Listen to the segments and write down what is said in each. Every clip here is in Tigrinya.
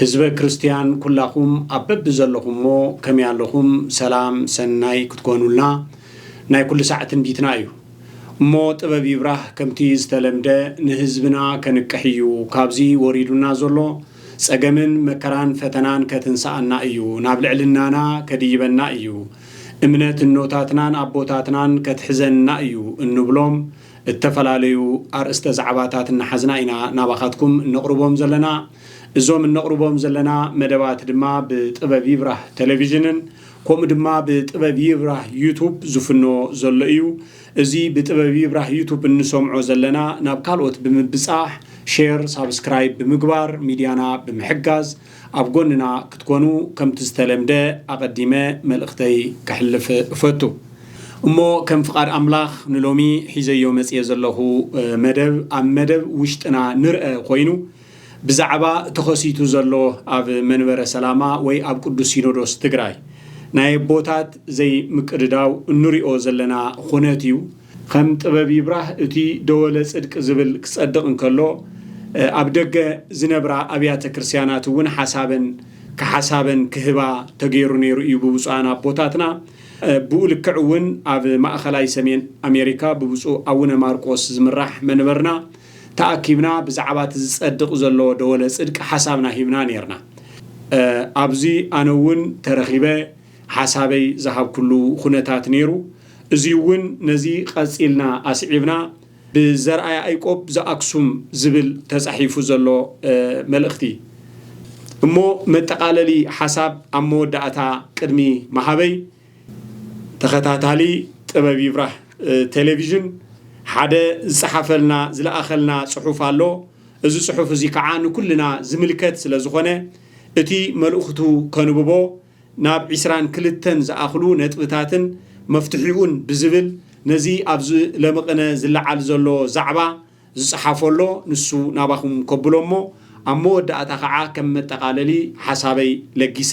ህዝበ ክርስትያን ኩላኹም ኣብ በብዘለኹሞ ከመይ ኣለኹም ሰላም ሰናይ ክትኮኑልና ናይ ኩሉ ሳዕ ትንቢትና እዩ እሞ ጥበብ ይብራህ ከምቲ ዝተለምደ ንህዝብና ከንቅሕ እዩ ካብዚ ወሪዱና ዘሎ ጸገምን መከራን ፈተናን ከትንስኣና እዩ ናብ ልዕልናና ከድይበና እዩ እምነት እኖታትናን ኣቦታትናን ከትሕዘንና እዩ እንብሎም እተፈላለዩ ኣርእስተ ዛዕባታት እናሓዝና ኢና ናባኻትኩም እነቕርቦም ዘለና እዞም እነቕርቦም ዘለና መደባት ድማ ብጥበብ ይብራህ ተለቪዥንን ከምኡ ድማ ብጥበብ ይብራህ ዩቱብ ዝፍኖ ዘሎ እዩ። እዚ ብጥበብ ይብራህ ዩቱብ እንሰምዖ ዘለና ናብ ካልኦት ብምብጻሕ ሼር ሳብስክራይብ ብምግባር ሚድያና ብምሕጋዝ ኣብ ጎንና ክትኮኑ ከምቲ ዝተለምደ ኣቐዲመ መልእኽተይ ከሕልፍ እፈቱ። እሞ ከም ፍቓድ ኣምላኽ ንሎሚ ሒዘዮ መጽየ ዘለኹ መደብ ኣብ መደብ ውሽጥና ንርኣ ኮይኑ ብዛዕባ ተኸሲቱ ዘሎ ኣብ መንበረ ሰላማ ወይ ኣብ ቅዱስ ሲኖዶስ ትግራይ ናይ ኣቦታት ዘይምቅድዳው እንሪኦ ዘለና ኹነት እዩ። ኸም ጥበብ ይብራህ እቲ ደወለ ፅድቅ ዝብል ክፀድቕ እንከሎ ኣብ ደገ ዝነብራ ኣብያተ ክርስቲያናት እውን ሓሳበን ክሓሳበን ክህባ ተገይሩ ነይሩ እዩ ብብፁዓን ኣቦታትና። ብኡ ልክዕ እውን ኣብ ማእኸላይ ሰሜን ኣሜሪካ ብብፁዕ ኣውነ ማርቆስ ዝምራሕ መንበርና ተኣኪብና ብዛዕባ እቲ ዝጸድቕ ዘሎ ደወለ ጽድቂ ሓሳብና ሂብና ኔርና። ኣብዚ ኣነ እውን ተረኺበ ሓሳበይ ዝሃብኩሉ ኹነታት ኔሩ። እዙይ እውን ነዚ ቐጺልና ኣስዒብና ብዘርኣ ያኢቆብ ዘኣክሱም ዝብል ተጻሒፉ ዘሎ መልእኽቲ እሞ መጠቓለሊ ሓሳብ ኣብ መወዳእታ ቅድሚ ምሃበይ፣ ተኸታታሊ ጥበብ ይብራህ ቴሌቪዥን ሓደ ዝጸሓፈልና ዝለኣኸልና ጽሑፍ ኣሎ እዚ ጽሑፍ እዚ ከዓ ንኩልና ዝምልከት ስለ ዝኾነ እቲ መልእኽቱ ከንብቦ ናብ ዒስራን ክልተን ዝኣኽሉ ነጥብታትን መፍትሒኡን ብዝብል ነዚ ኣብዚ ለምቕነ ዝለዓል ዘሎ ዛዕባ ዝጸሓፎ ኣሎ ንሱ ናባኹም ከብሎ እሞ ኣብ መወዳእታ ከዓ ከም መጠቓለሊ ሓሳበይ ለጊሰ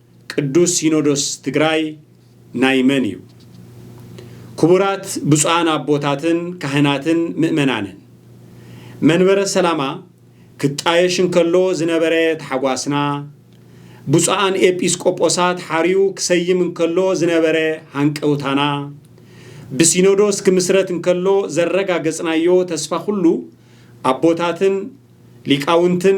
ቅዱስ ሲኖዶስ ትግራይ ናይ መን እዩ? ክቡራት ብፁዓን ኣቦታትን ካህናትን ምእመናንን፣ መንበረ ሰላማ ክጣየሽ እንከሎ ዝነበረ ታሕጓስና፣ ብፁዓን ኤጲስ ቆጶሳት ሓርዩ ክሰይም እንከሎ ዝነበረ ሃንቀውታና፣ ብሲኖዶስ ክምስረት እንከሎ ዘረጋገጽናዮ ተስፋ ኩሉ ኣቦታትን ሊቃውንትን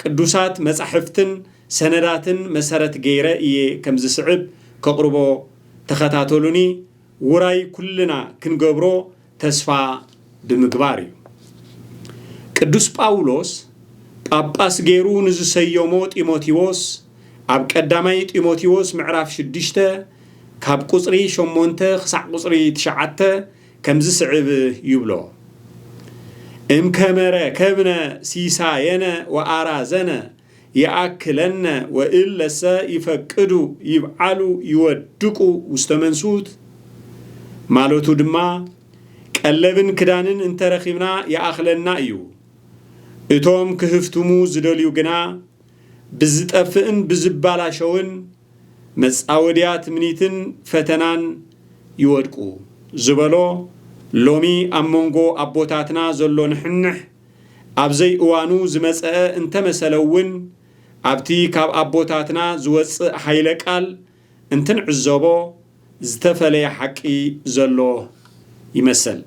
ቅዱሳት መጻሕፍትን ሰነዳትን መሰረት ገይረ እየ ከም ዝስዕብ ከቕርቦ ተኸታተሉኒ ውራይ ኩልና ክንገብሮ ተስፋ ብምግባር እዩ። ቅዱስ ጳውሎስ ጳጳስ ገይሩ ንዝሰየሞ ጢሞቴዎስ ኣብ ቀዳማይ ጢሞቴዎስ ምዕራፍ ሽዱሽተ ካብ ቁጽሪ ሸሞንተ ክሳዕ ቁጽሪ ትሽዓተ ከምዝስዕብ ይብሎ፣ እም ከመ ረከብነ ሲሳየነ ወአራዘነ ይአክለነ ወእለሰ ይፈቅዱ ይብዓሉ ይወድቁ ውስተ መንሱት፣ ማለቱ ድማ ቀለብን ክዳንን እንተረኺብና ይኣኽለና እዩ፣ እቶም ክህፍትሙ ዝደልዩ ግና፣ ብዝጠፍእን ብዝባላሸውን መጻወድያ ትምኒትን ፈተናን ይወድቁ ዝበሎ ሎሚ ኣብ መንጎ ኣቦታትና ዘሎ ንሕንሕ ኣብ ዘይእዋኑ ዝመጸኣ እንተመሰለውን ኣብቲ ካብ ኣቦታትና ዝወጽእ ሃይለ ቃል እንትንዕዘቦ ዝተፈለየ ሓቂ ዘሎ ይመሰል።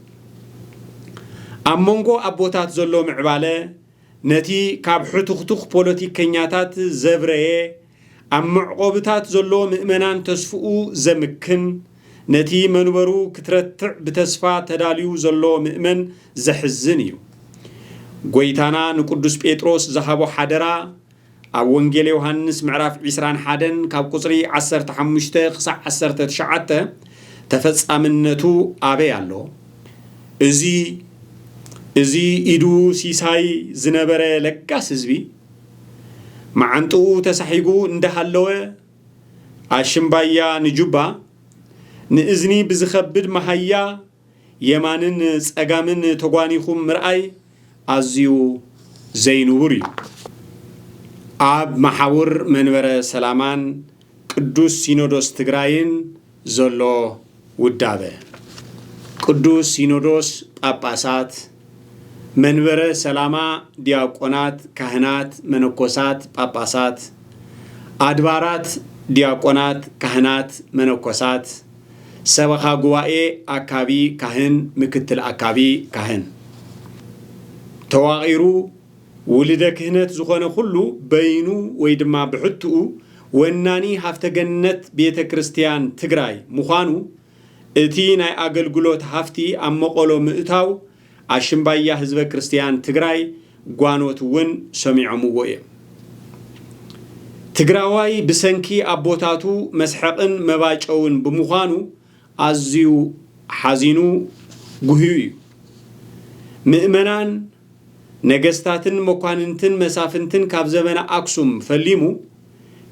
ኣብ መንጎ ኣቦታት ዘሎ ምዕባለ ነቲ ካብ ሕቱኽቱኽ ፖለቲከኛታት ዘብረየ፣ ኣብ መዕቆብታት ዘሎ ምእመናን ተስፍኡ ዘምክን፣ ነቲ መንበሩ ክትረትዕ ብተስፋ ተዳልዩ ዘሎ ምእመን ዘሕዝን እዩ። ጎይታና ንቅዱስ ጴጥሮስ ዝሃቦ ሓደራ ኣብ ወንጌል ዮሃንስ ምዕራፍ ዕስራን ሓደን ካብ ቁጽሪ ዓሰርተ ሓሙሽተ ክሳዕ ዓሰርተ ትሽዓተ ተፈጻምነቱ ኣበይ ኣሎ? እዚ እዚ ኢዱ ሲሳይ ዝነበረ ለጋስ ህዝቢ መዓንጥኡ ተሳሒጉ እንዳሃለወ ኣሽምባያ ንጁባ ንእዝኒ ብዝኸብድ መሃያ የማንን ጸጋምን ተጓኒኹም ምርኣይ ኣዝዩ ዘይንቡር እዩ። ኣብ መሓውር መንበረ ሰላማን ቅዱስ ሲኖዶስ ትግራይን ዘሎ ውዳበ፣ ቅዱስ ሲኖዶስ ጳጳሳት፣ መንበረ ሰላማ ዲያቆናት፣ ካህናት፣ መነኮሳት፣ ጳጳሳት፣ ኣድባራት ዲያቆናት፣ ካህናት፣ መነኮሳት፣ ሰበኻ ጉባኤ ኣካቢ ካህን ምክትል ኣካቢ ካህን ተዋቒሩ ውልደ ክህነት ዝኾነ ኩሉ በይኑ ወይ ድማ ብሕትኡ ወናኒ ሃፍተ ገነት ቤተ ክርስቲያን ትግራይ ምዃኑ እቲ ናይ ኣገልግሎት ሃፍቲ ኣብ መቐሎ ምእታው ኣሽምባያ ህዝበ ክርስትያን ትግራይ ጓኖት እውን ሰሚዖምዎ እዮም። ትግራዋይ ብሰንኪ ኣቦታቱ መስሐቕን መባጨውን ብምዃኑ ኣዝዩ ሓዚኑ ጉህዩ እዩ። ምእመናን፣ ነገስታትን መኳንንትን መሳፍንትን ካብ ዘመነ ኣክሱም ፈሊሙ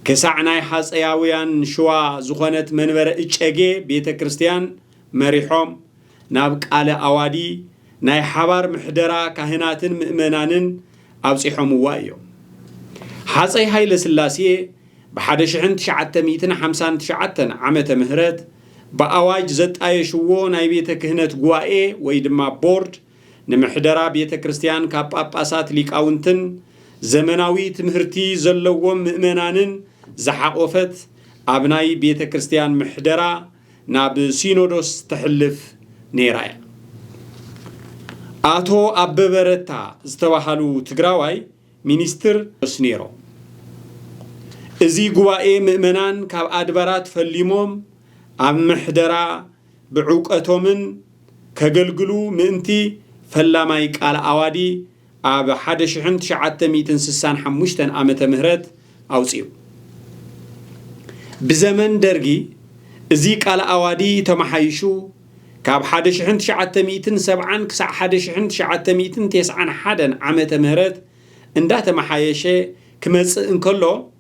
ክሳዕ ናይ ሃፀያውያን ሽዋ ዝኾነት መንበረ እጨጌ ቤተ ክርስትያን መሪሖም ናብ ቃለ ኣዋዲ ናይ ሓባር ምሕደራ ካህናትን ምእመናንን ኣብጺሖምዋ እዮም። ሃጸይ ሃይለስላሴ ብሓደ ሽሕን ትሽዓተ ሚእትን ሓምሳን ትሽዓተን ዓመተ ምህረት ብኣዋጅ ዘጣየሽዎ ናይ ቤተ ክህነት ጉባኤ ወይ ድማ ቦርድ ንምሕደራ ቤተ ክርስቲያን ካብ ጳጳሳት ሊቃውንትን ዘመናዊ ትምህርቲ ዘለዎም ምእመናንን ዝሓቖፈት ኣብ ናይ ቤተ ክርስቲያን ምሕደራ ናብ ሲኖዶስ ተሕልፍ ነይራ እያ። ኣቶ ኣበበ ረታ ዝተባሃሉ ትግራዋይ ሚኒስትር ዶስ ነይሮም። እዚ ጉባኤ ምእመናን ካብ ኣድባራት ፈሊሞም ኣብ ምሕደራ ብዕውቀቶምን ከገልግሉ ምእንቲ ፈላማይ ቃለ ኣዋዲ ኣብ ሓደ ሽሕን ትሽዓተ ሚእትን ስሳን ሓሙሽተን ዓመተ ምህረት ኣውጺኡ። ብዘመን ደርጊ እዚ ቃል ኣዋዲ ተመሓይሹ ካብ ሓደ ሽሕን ትሽዓተ ሚእትን ሰብዓን ክሳዕ ሓደ ሽሕን ትሽዓተ ሚእትን ቴስዓን ሓደን ዓመተ ምህረት እንዳተመሓየሸ ክመጽእ እንከሎ፣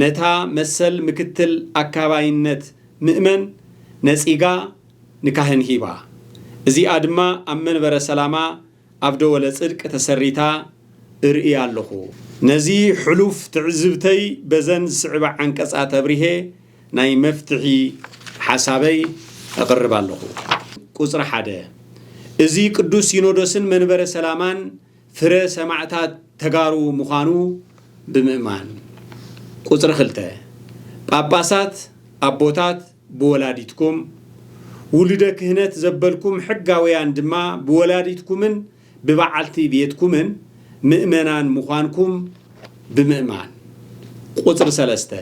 ነታ መሰል ምክትል ኣካባይነት ምእመን ነጺጋ ንካህን ሂባ። እዚኣ ድማ ኣብ መንበረ ሰላማ ኣብ ደወለ ጽድቅ ተሰሪታ እርኢ ኣለኹ። ነዚ ሕሉፍ ትዕዝብተይ በዘን ዝስዕባ ዓንቀጻት ኣብሪሄ ናይ መፍትሒ ሓሳበይ እቕርብ ኣለኹ። ቁጽሪ ሓደ፣ እዚ ቅዱስ ሲኖዶስን መንበረ ሰላማን ፍረ ሰማዕታት ተጋሩ ምዃኑ ብምእማን። ቁጽሪ ክልተ። ጳጳሳት ኣቦታት ብወላዲትኩም፣ ውሉደ ክህነት ዘበልኩም ሕጋውያን ድማ ብወላዲትኩምን ብበዓልቲ ቤትኩምን ምእመናን ምዃንኩም ብምእማን። ቁጽሪ ሰለስተ።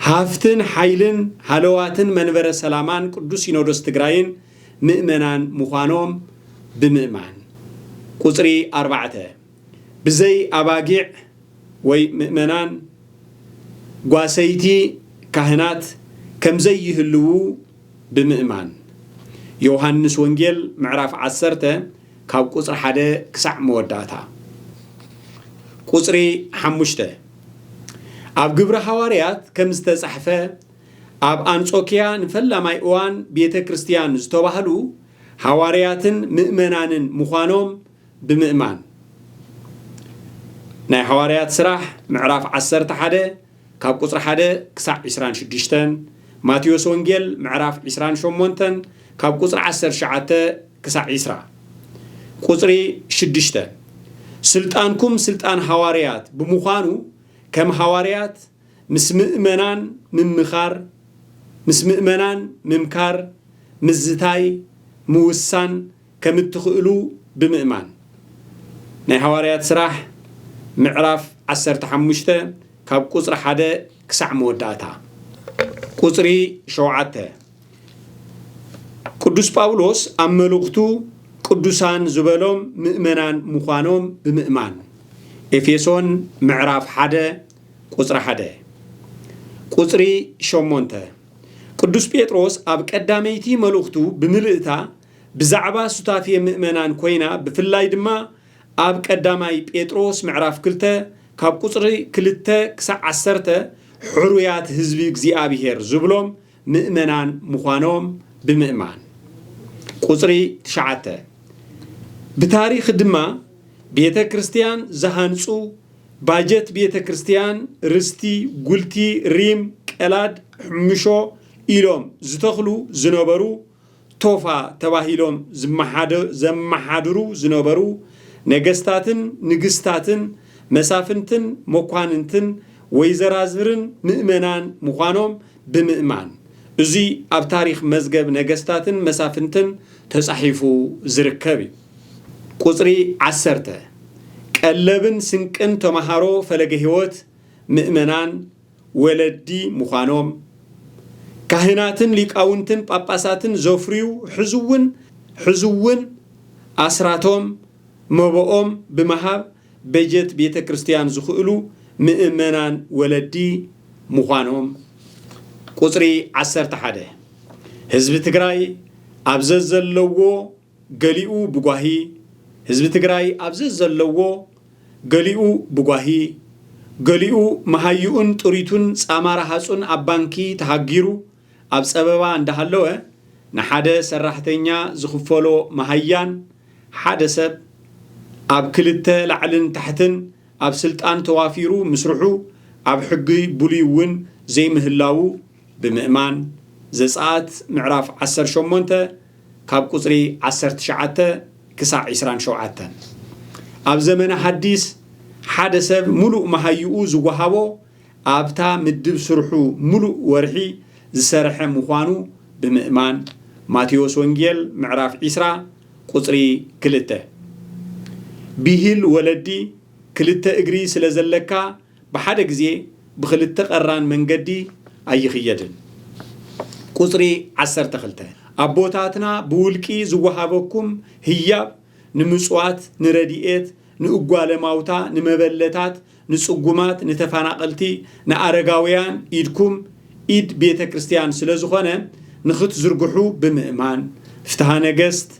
ሃፍትን ሓይልን ሃለዋትን መንበረ ሰላማን ቅዱስ ሲኖዶስ ትግራይን ምእመናን ምዃኖም ብምእማን። ቁጽሪ ኣርባዕተ፣ ብዘይ ኣባጊዕ ወይ ምእመናን ጓሰይቲ ካህናት ከም ዘይህልዉ ብምእማን። ዮውሃንስ ወንጌል ምዕራፍ ዓሰርተ ካብ ቁጽሪ ሓደ ክሳዕ መወዳእታ። ቁጽሪ ሓሙሽተ፣ ኣብ ግብሪ ሃዋርያት ከም ዝተጻሕፈ፣ ኣብ ኣንጾክያ ንፈላማይ እዋን ቤተ ክርስትያን ዝተባህሉ ሓዋርያትን ምእመናንን ምዃኖም ብምእማን። ናይ ሓዋርያት ስራሕ ምዕራፍ ዓሰርተ ሓደ ካብ ቁጽሪ ሓደ ክሳዕ ዕስራን ሽዱሽተን፣ ማቴዎስ ወንጌል ምዕራፍ ዕስራን ሸሞንተን ካብ ቁጽሪ ዓሰርተ ትሽዓተ ክሳዕ ዕስራ። ቁጽሪ ሽዱሽተ፣ ስልጣንኩም ስልጣን ሓዋርያት ብምዃኑ ከም ሓዋርያት፣ ምስ ምእመናን ምምኻር፣ ምስ ምእመናን ምምካር፣ ምዝታይ፣ ምውሳን ከም እትኽእሉ ብምእማን። ናይ ሃዋርያት ሥራሕ ምዕራፍ ዓሰርተ ሓሙሽተ ካብ ቁጽሪ ሓደ ክሳዕ መወዳእታ ቁጽሪ ሸውዓተ ቅዱስ ጳውሎስ ኣብ መልእኽቱ ቅዱሳን ዝበሎም ምእመናን ምዃኖም ብምእማን ኤፌሶን ምዕራፍ ሓደ ቁጽሪ ሓደ ቁጽሪ ሸሞንተ ቅዱስ ጴጥሮስ ኣብ ቀዳመይቲ መልእኽቱ ብምልእታ ብዛዕባ ሱታፌ ምእመናን ኮይና ብፍላይ ድማ ኣብ ቀዳማይ ጴጥሮስ ምዕራፍ ክልተ ካብ ቁጽሪ ክልተ ክሳዕ ዓሰርተ ሕሩያት ህዝቢ እግዚኣብሔር ዝብሎም ምእመናን ምዃኖም ብምእማን። ቁጽሪ ትሽዓተ፣ ብታሪኽ ድማ ቤተ ክርስቲያን ዝሃንጹ ባጀት ቤተ ክርስቲያን ርስቲ፣ ጉልቲ፣ ሪም፣ ቀላድ፣ ሕምሾ ኢሎም ዝተኽሉ ዝነበሩ ቶፋ ተባሂሎም ዘመሓድሩ ዝነበሩ ነገስታትን ንግስታትን፣ መሳፍንትን መኳንንትን፣ ወይዘራዝርን ምእመናን ምዃኖም ብምእማን፣ እዙይ ኣብ ታሪኽ መዝገብ ነገስታትን መሳፍንትን ተፃሒፉ ዝርከብ እዩ። ቁፅሪ ዓሰርተ፣ ቀለብን ስንቅን ተምሃሮ ፈለገ ሕይወት ምእመናን ወለዲ ምዃኖም፣ ካህናትን ሊቃውንትን ጳጳሳትን ዘፍርዩ ሕዚ'ውን ሕዚ'ውን ኣስራቶም መባኦም ብምሃብ በጀት ቤተ ክርስቲያን ዝኽእሉ ምእመናን ወለዲ ምዃኖም ቁጽሪ ዓሰርተ ሓደ ህዝቢ ትግራይ ኣብ ዘዘለዎ ገሊኡ ብጓሂ ህዝቢ ትግራይ ኣብ ዘዘለዎ፣ ገሊኡ ብጓሂ፣ ገሊኡ መሃይኡን ጥሪቱን ፃማ ረሃፁን ኣብ ባንኪ ተሃጊሩ ኣብ ፀበባ እንዳሃለወ ንሓደ ሰራሕተኛ ዝኽፈሎ መሃያን ሓደ ሰብ ኣብ ክልተ ላዕልን ታሕትን ኣብ ስልጣን ተዋፊሩ ምስርሑ ኣብ ሕጊ ብሉይ እውን ዘይምህላዉ ብምእማን ዘፀኣት ምዕራፍ ዓሰርተ ሸሞንተ ካብ ቁጽሪ ዓሰርተ ትሽዓተ ክሳዕ ዕስራን ሸውዓተን፣ ኣብ ዘመነ ሓዲስ ሓደ ሰብ ምሉእ መሃዩኡ ዝወሃቦ ኣብታ ምድብ ስርሑ ምሉእ ወርሒ ዝሰርሐ ምዃኑ ብምእማን፣ ማቴዎስ ወንጌል ምዕራፍ ዕስራ ቁጽሪ ክልተ፣ ቢሂል ወለዲ ክልተ እግሪ ስለ ዘለካ፣ ብሓደ ግዜ ብኽልተ ቀራን መንገዲ ኣይኽየድን። ቁጽሪ ዓሰርተ ክልተ፣ ኣቦታትና ብውልቂ ዝወሃበኩም ህያብ ንምጽዋት፣ ንረዲኤት፣ ንእጓለ ማውታ፣ ንመበለታት፣ ንጽጉማት፣ ንተፋናቐልቲ፣ ንኣረጋውያን ኢድኩም ኢድ ቤተ ክርስቲያን ስለ ዝኾነ ንኽትዝርግሑ ብምእማን፣ ፍትሃ ነገስት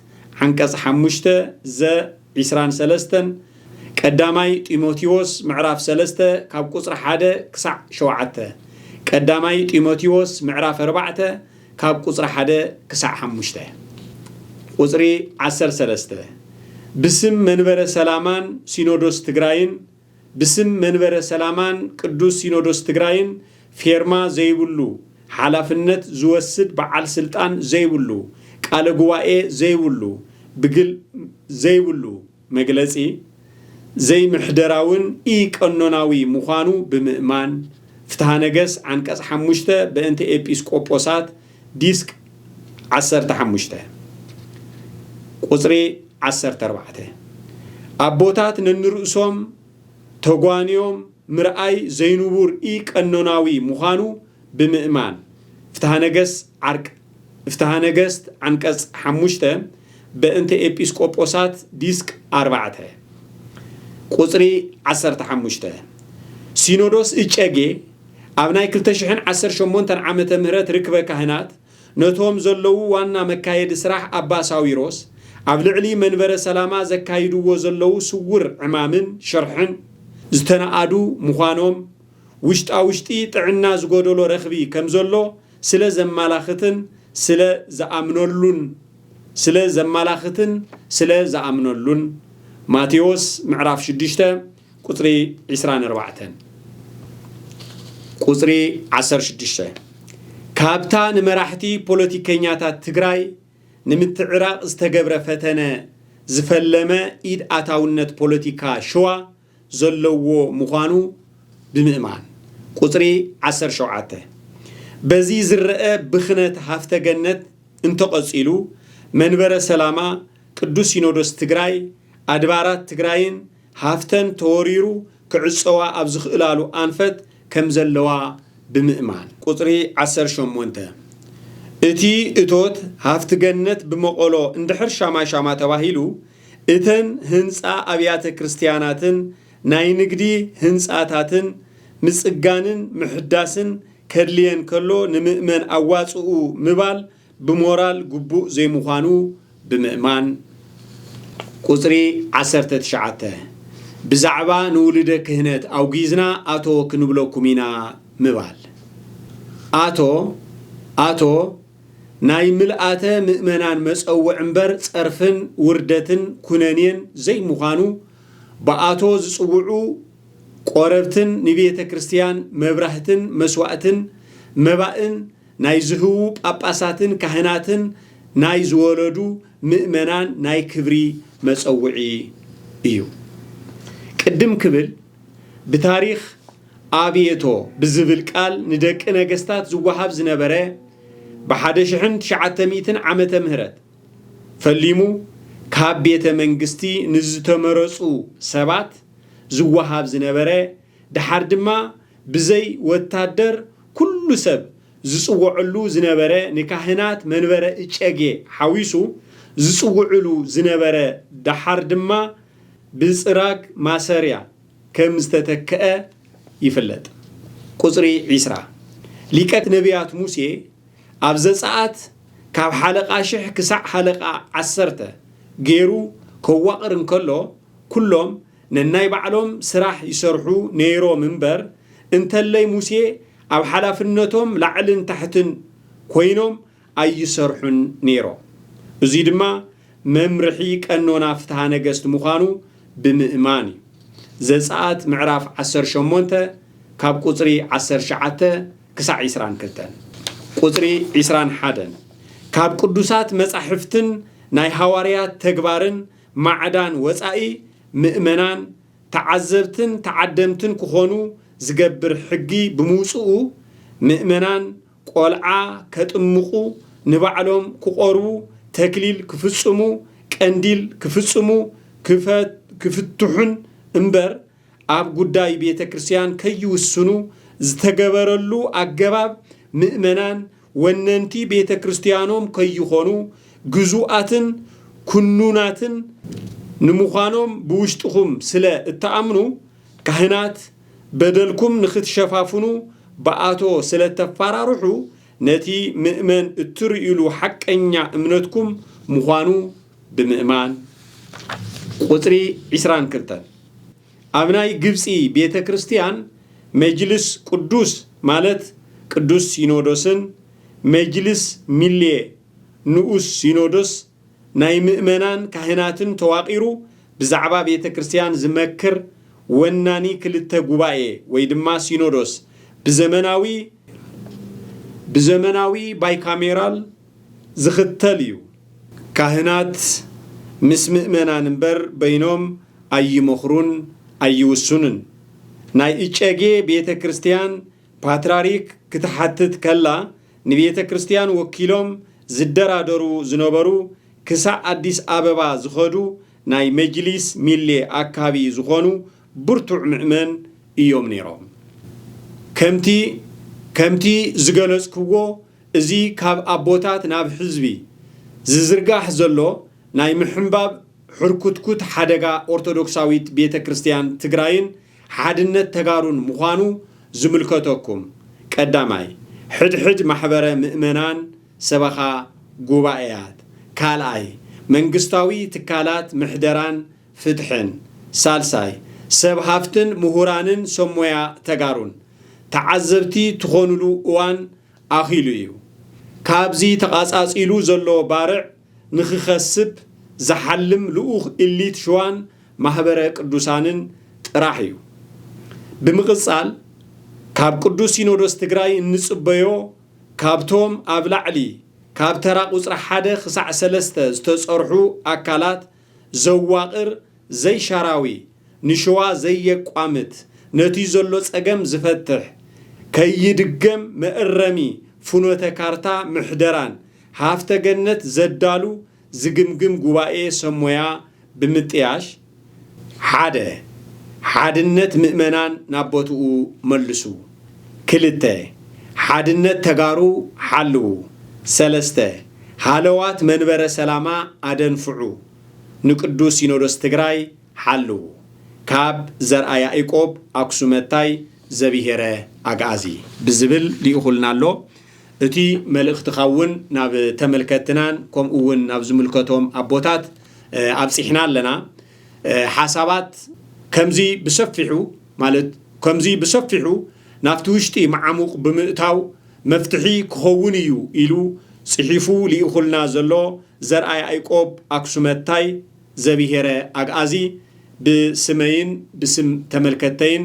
ዓንቀጽ ሓሙሽተ ዘ። ዕስራን ሰለስተን፣ ቀዳማይ ጢሞቲዎስ ምዕራፍ ሰለስተ ካብ ቁጽሪ ሓደ ክሳዕ ሸውዓተ፣ ቀዳማይ ጢሞቲዎስ ምዕራፍ ኣርባዕተ ካብ ቁጽሪ ሓደ ክሳዕ ሓሙሽተ። ቁጽሪ ዓሰርተ ሰለስተ፣ ብስም መንበረ ሰላማን ሲኖዶስ ትግራይን፣ ብስም መንበረ ሰላማን ቅዱስ ሲኖዶስ ትግራይን ፌርማ ዘይብሉ፣ ሓላፍነት ዝወስድ በዓል ስልጣን ዘይብሉ፣ ቃለ ጉባኤ ዘይብሉ፣ ብግል ዘይብሉ መግለጺ ዘይምሕደራውን ኢ-ቀኖናዊ ምዃኑ ብምእማን፣ ፍትሃ ነገስ ዓንቀጽ ሓሙሽተ በእንተ ኤጲስ ቆጶሳት ዲስክ ዓሰርተ ሓሙሽተ ቁጽሪ ዓሰርተ ኣርባዕተ ኣቦታት ነንርእሶም ተጓንዮም ምርኣይ ዘይንቡር ኢ-ቀኖናዊ ምዃኑ ብምእማን፣ ፍትሃ ነገስ ዓርቅ ፍትሃ ነገስት ዓንቀጽ ሓሙሽተ፣ በእንተ ኤጲስቆጶሳት ዲስክ ኣርባዕተ፣ ቁጽሪ ዓሰርተ ሓሙሽተ፣ ሲኖዶስ እጨጌ ኣብ ናይ ክልተ ሽሕን ዓሰርተ ሸሞንተን ዓመተ ምህረት ርክበ ካህናት ነቶም ዘለዉ ዋና መካየዲ ስራሕ ኣባ ሳዊሮስ ኣብ ልዕሊ መንበረ ሰላማ ዘካይድዎ ዘለዉ ስውር ዕማምን ሽርሕን ዝተነኣዱ ምዃኖም ውሽጣውሽጢ ጥዕና ዝጎደሎ ረኽቢ ከምዘሎ ስለ ዘማላኽትን ስለ ዝኣምነሉን ስለ ዘማላኽትን ስለ ዝኣምነሉን፣ ማቴዎስ ምዕራፍ ሽዱሽተ ቁጽሪ ዕስራን ኣርባዕተን። ቁጽሪ ዓሰርተ ሽዱሽተ፣ ካብታ ንመራሕቲ ፖለቲከኛታት ትግራይ ንምትዕራቕ ዝተገብረ ፈተነ ዝፈለመ ኢድ ኣታውነት ፖለቲካ ሽዋ፣ ዘለዎ ምዃኑ ብምእማን፣ ቁጽሪ ዓሰርተ ሸውዓተ፣ በዚ ዝረኣ ብኽነት ሃፍተ ገነት እንተቐጺሉ መንበረ ሰላማ ቅዱስ ሲኖዶስ ትግራይ ኣድባራት ትግራይን ሃፍተን ተወሪሩ ክዕጸዋ ኣብ ዝኽእላሉ ኣንፈት ከምዘለዋ ብምእማን፣ ቁጽሪ ዓሰርተ ሸሞንተ፣ እቲ እቶት ሃፍቲ ገነት ብመቐሎ እንድሕር ሻማሻማ ተባሂሉ እተን ህንጻ ኣብያተ ክርስትያናትን ናይ ንግዲ ህንጻታትን ምጽጋንን ምሕዳስን ከድልየን ከሎ ንምእመን ኣዋጽኡ ምባል ብሞራል ግቡእ ዘይምዃኑ ብምእማን ቁጽሪ ዓሰርተ ትሽዓተ ብዛዕባ ንውሉደ ክህነት ኣውጊዝና ኣቶ ክንብለኩም ኢና ምባል ኣቶ ኣቶ ናይ ምልኣተ ምእመናን መጸውዕ እምበር ጸርፍን ውርደትን ኩነኔን ዘይምዃኑ ብኣቶ ዝጽውዑ ቆረብትን ንቤተ ክርስቲያን መብራህትን መስዋእትን መባእን ናይ ዝህቡ ጳጳሳትን ካህናትን ናይ ዝወለዱ ምእመናን ናይ ክብሪ መጸውዒ እዩ ቅድም ክብል ብታሪኽ ኣብየቶ ብዝብል ቃል ንደቂ ነገስታት ዝወሃብ ዝነበረ ብሓደ ሽሕን ትሽዓተ ሚእትን ዓመተ ምህረት ፈሊሙ ካብ ቤተ መንግስቲ ንዝተመረጹ ሰባት ዝወሃብ ዝነበረ ደሓር ድማ ብዘይ ወታደር ኩሉ ሰብ ዝጽወዐሉ ዝነበረ ንካህናት መንበረ እጨጌ ሓዊሱ ዝጽውዕሉ ዝነበረ ደሓር ድማ ብፅራግ ማሰርያ ከም ዝተተክዐ ይፍለጥ። ቁፅሪ ዒስራ፣ ሊቀ ነብያት ሙሴ ኣብ ዘፀኣት ካብ ሓለቓ ሽሕ ክሳዕ ሃለቓ ዓሰርተ ገይሩ ከዋቕር እንከሎ ኩሎም ነናይ ባዕሎም ስራሕ ይሰርሑ ነይሮም እምበር እንተለይ ሙሴ ኣብ ሓላፍነቶም ላዕልን ታሕትን ኮይኖም ኣይሰርሑን ነይሮም። እዙይ ድማ መምርሒ ቀኖና ፍትሃ ነገስት ምዃኑ ብምእማን እዩ። ዘፀኣት ምዕራፍ ዓሰርተ ሸሞንተ ካብ ቁፅሪ ዓሰርተ ትሽዓተ ክሳዕ ዕስራን ክልተን ቁፅሪ ዕስራን ሓደን ካብ ቅዱሳት መፃሕፍትን ናይ ሃዋርያት ተግባርን ማዕዳን ወፃኢ ምእመናን ተዓዘብትን ተዓደምትን ክኾኑ ዝገብር ሕጊ ብምውፅኡ ምእመናን ቆልዓ ከጥምቑ፣ ንባዕሎም ክቖርቡ፣ ተክሊል ክፍጽሙ፣ ቀንዲል ክፍጽሙ፣ ክፍትሑን እምበር ኣብ ጉዳይ ቤተ ክርስቲያን ከይውስኑ ዝተገበረሉ ኣገባብ ምእመናን ወነንቲ ቤተ ክርስቲያኖም ከይኾኑ ግዙኣትን ኩኑናትን ንምዃኖም ብውሽጥኹም ስለ እትኣምኑ ካህናት በደልኩም ንክትሸፋፍኑ ብኣቶ ስለተፋራርሑ ነቲ ምእመን እትርእዩሉ ሓቀኛ እምነትኩም ምዃኑ ብምእማን ቁጽሪ ዕስራን ክልተን ኣብ ናይ ግብጺ ቤተ ክርስቲያን መጅልስ ቅዱስ ማለት ቅዱስ ሲኖዶስን መጅልስ ሚሌ ንኡስ ሲኖዶስ ናይ ምእመናን ካህናትን ተዋቒሩ ብዛዕባ ቤተ ክርስቲያን ዝመክር ወናኒ ክልተ ጉባኤ ወይ ድማ ሲኖዶስ ብዘመናዊ ብዘመናዊ ባይካሜራል ዝኽተል እዩ። ካህናት ምስ ምእመናን እምበር በይኖም ኣይመኽሩን ኣይውሱንን። ናይ እጨጌ ቤተ ክርስቲያን ፓትራሪክ ክትሓትት ከላ ንቤተ ክርስቲያን ወኪሎም ዝደራደሩ ዝነበሩ ክሳዕ ኣዲስ ኣበባ ዝኸዱ ናይ መጅሊስ ሚሌ ኣካቢ ዝኾኑ ብርቱዕ ምእመን እዮም ነይሮም። ከምቲ ከምቲ ዝገለጽክዎ እዚ ካብ ኣቦታት ናብ ሕዝቢ ዝዝርጋሕ ዘሎ ናይ ምሕንባብ ሕርኩትኩት ሓደጋ ኦርቶዶክሳዊት ቤተ ክርስቲያን ትግራይን ሓድነት ተጋሩን ምዃኑ ዝምልከተኩም ቀዳማይ ሕድሕድ ማሕበረ ምእመናን ሰበኻ ጉባኤያት ካልኣይ መንግስታዊ ትካላት ምሕደራን ፍትሕን ሳልሳይ ሰብ ሃፍትን ምሁራንን ሰብ ሞያ ተጋሩን ተዓዘብቲ ትኾኑሉ እዋን ኣኺሉ እዩ ካብዚ ተቓፃፂሉ ዘሎ ባርዕ ንክኸስብ ዝሓልም ልኡኽ ኢሊት ሽዋን ማህበረ ቅዱሳንን ጥራሕ እዩ። ብምቕፃል ካብ ቅዱስ ሲኖዶስ ትግራይ እንፅበዮ ካብቶም ኣብ ላዕሊ ካብ ተራ ቁፅሪ ሓደ ክሳዕ ሰለስተ ዝተፀርሑ ኣካላት ዘዋቕር ዘይሻራዊ፣ ንሸዋ ዘየቋምት፣ ነቲ ዘሎ ጸገም ዝፈትሕ፣ ከይድገም መእረሚ ፍኖተ ካርታ ምሕደራን ሃፍተ ገነት ዘዳሉ ዝግምግም ጉባኤ ሰብ ሞያ ብምጥያሽ፣ ሓደ። ሓድነት ምእመናን ናብ ቦትኡ መልሱ። ክልተ፣ ሓድነት ተጋሩ ሓልዉ። ሰለስተ፣ ሃለዋት መንበረ ሰላማ ኣደንፍዑ። ንቅዱስ ሲኖዶስ ትግራይ ሓልዉ። ካብ ዘርኣ ያኢቆብ ኣኩሱመታይ ዘብሔረ ኣግኣዚ። ብዝብል ሊኢኹልና ኣሎ። እቲ መልእኽትኻ እውን ናብ ተመልከትትናን ከምኡ እውን ናብ ዝምልከቶም ኣቦታት ኣብፂሕና ኣለና። ሓሳባት ከምዚ ብሰፊሑ ማለት ከምዚ ብሰፊሑ ናብቲ ውሽጢ መዓሙቕ ብምእታው መፍትሒ ክኸውን ኢዩ ኢሉ ጽሒፉ ልኢኹልና ዘሎ ዘርኣ ያኢቆብ ኣክሱመታይ ዘብሄረ ኣግኣዚ ብስመይን ብስም ተመልከትተይን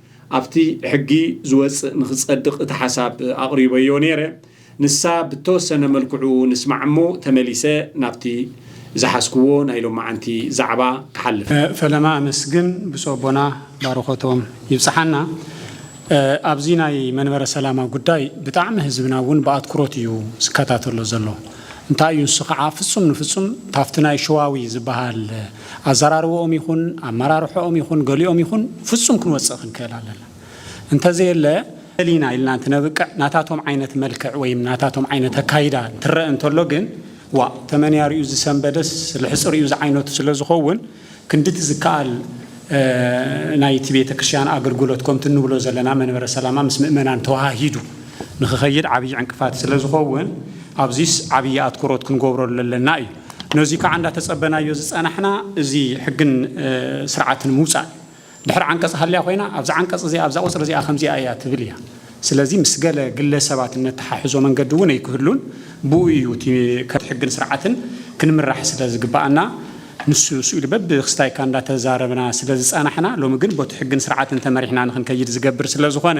ኣብቲ ሕጊ ዝወጽእ ንክጸድቅ እቲ ሓሳብ ኣቅሪበዮ ነይረ ንሳ ብተወሰነ መልክዑ ንስማዕ እሞ ተመሊሰ ናብቲ ዝሓዝክዎ ናይ ሎማዓንቲ ዛዕባ ክሓልፍ። ፈለማ ኣመስግን ብፁዕ ኣቦና ባርኾቶም ይብጽሓና ኣብዚ ናይ መንበረ ሰላማ ጉዳይ ብጣዕሚ ህዝብና እውን ብኣትኩሮት እዩ ዝከታተሎ ዘሎ እንታይ እዩ ንሱ ከዓ ፍጹም ንፍጹም ታፍቲ ናይ ሸዋዊ ዝበሃል ኣዘራርበኦም ይኹን ኣመራርሐኦም ይኹን ገሊኦም ይኹን ፍጹም ክንወጽእ ክንክእል ኣለና እንተዘየለ፣ ደሊና ኢልና እንትነብቅዕ ናታቶም ዓይነት መልክዕ ወይም ናታቶም ዓይነት ኣካይዳ እንትረእ እንተሎ ግን ዋእ ተመንያ ሪኡ ዝሰንበደስ ልሕጽ ሪኡ ዝዓይነቱ ስለዝኸውን ክንድቲ ዝከኣል ናይቲ ቤተክርስትያን ኣገልግሎት ከምቲ እንብሎ ዘለና መንበረ ሰላማ ምስ ምእመናን ተወሃሂዱ ንክኸይድ ዓብይ ዕንቅፋት ስለዝኸውን ኣብዚስ ዓብይ ኣትኩሮት ክንገብረሉ ኣለና እዩ። ነዙይ ከዓ እንዳተፀበናዮ ዝፀናሕና እዚ ሕግን ስርዓትን ምውፃእ እዩ። ድሕር ዓንቀፅ ሃልያ ኮይና ኣብዛ ዓንቀፅ እዚኣ ኣብዛ ቁፅሪ እዚኣ ከምዚኣ እያ ትብል እያ። ስለዚ ምስ ገለ ግለ ሰባት እነተሓሕዞ መንገዲ እውን እይክህሉን። ብኡ እዩ እቲ ከም ሕግን ስርዓትን ክንምራሕ ስለ ዝግበኣና ንሱ ንሱ ኢሉ በብክስታይካ እንዳተዛረብና ስለ ዝፀናሕና ሎሚ ግን ቦቲ ሕግን ስርዓትን ተመሪሕና ንክንከይድ ዝገብር ስለ ዝኾነ